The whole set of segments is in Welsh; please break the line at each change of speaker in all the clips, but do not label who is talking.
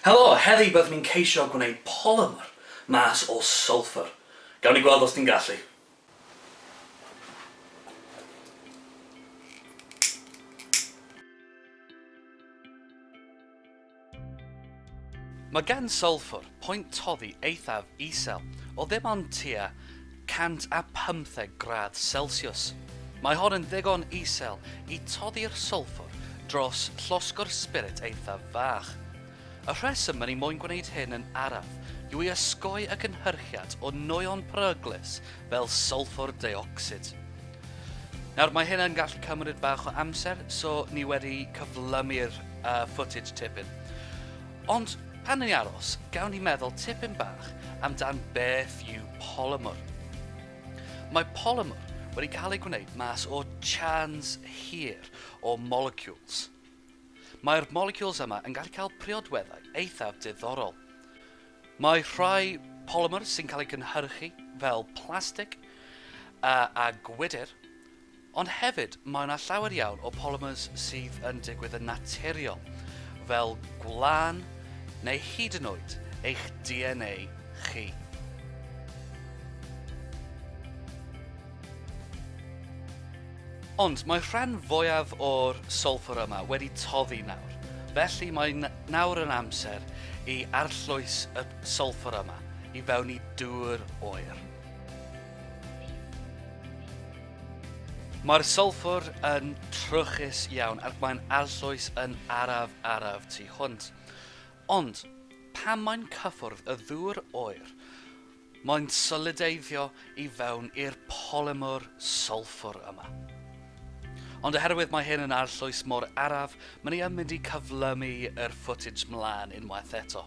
Helo, heddi byddwn ni'n ceisio gwneud polymer mas o sulphur. Gawn ni gweld os ni'n gallu. Mae gan sulphur pwynt toddi eithaf isel o ddim ond tua 115 gradd selsiws. Mae hon yn ddigon isel i toddi'r sylffwr dros llosgwr sbirit eithaf fach. Y rheswm yn ei moyn gwneud hyn yn araf yw i osgoi y cynhyrchiad o nwyon peryglus fel sylffwr deuocsid. Nawr, mae hyn yn gallu cymryd bach o amser, so ni wedi cyflymu'r uh, footage tipyn. Ond pan ni'n aros, gawn ni meddwl tipyn bach amdan beth yw Polymer. Mae polymer wedi cael ei gwneud mas o chans hir o molecules. Mae'r molecules yma yn gallu cael priodweddau eithaf diddorol. Mae rhai polymer sy'n cael ei gynhyrchu fel plastig a, a gwydr Ond hefyd, mae yna llawer iawn o polymers sydd yn digwydd yn naturiol, fel gwlân neu hyd yn oed eich DNA chi. Ond mae'r rhan fwyaf o'r solffwr yma wedi toddi nawr, felly mae nawr yn amser i arllwys y solffwr yma i fewn i dŵr oer. Mae'r sylffwr yn trwchus iawn ac mae'n arllwys yn araf araf tu hwnt. Ond, pan mae'n cyffwrdd y ddŵr oer, mae'n solideiddio i fewn i'r polymer sylffwr yma. Ond oherwydd mae hyn yn arllwys mor araf, mae ni yn mynd i cyflymu yr footage mlaen unwaith eto.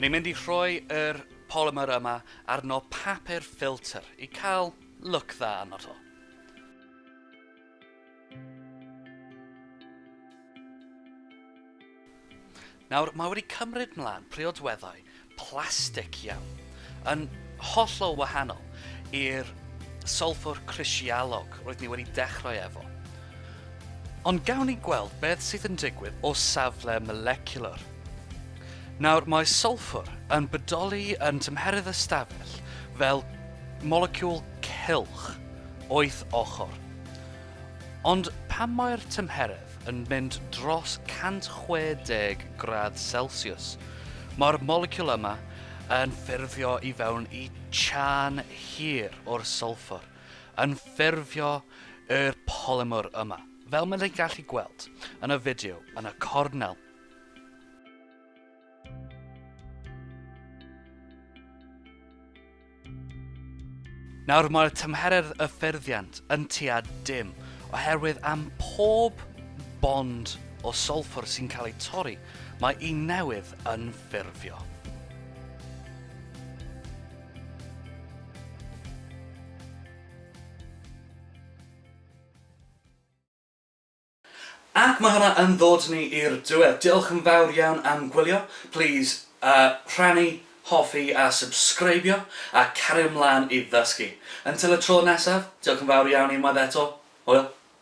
Ni'n mynd i rhoi yr polymer yma arno papur ffilter i cael look dda arno to. Nawr, mae wedi cymryd mlaen priodweddau plastig iawn, yn hollol wahanol i'r solffwr crisialog roeddwn i wedi dechrau efo. Ond gawn ni gweld beth sydd yn digwydd o safle moleciwlar. Nawr, mae solffwr yn bodoli yn tymheredd ystafell fel moleciwl cylch, wyth ochr. Ond pan mae'r tymheredd yn mynd dros 160 gradd Celsiws, mae'r moleciwl yma yn ffurfio i fewn i chân hir o'r sylffwr, yn ffurfio yr polymer yma, fel maen ni'n gallu gweld yn y fideo yn y cornel. Nawr mae'r tymheredd y ffurfiant yn tua dim oherwydd am pob bond o solffwr sy'n cael ei torri mae un newydd yn ffurfio. Ac mae hwnna yn ddod ni i'r diwedd. Diolch yn fawr iawn am gwylio. Plîs rhannu, hoffi a subscribio a cario mlaen i ddysgu. Until y tro nesaf, diolch yn fawr iawn unwaith eto. Hwyl!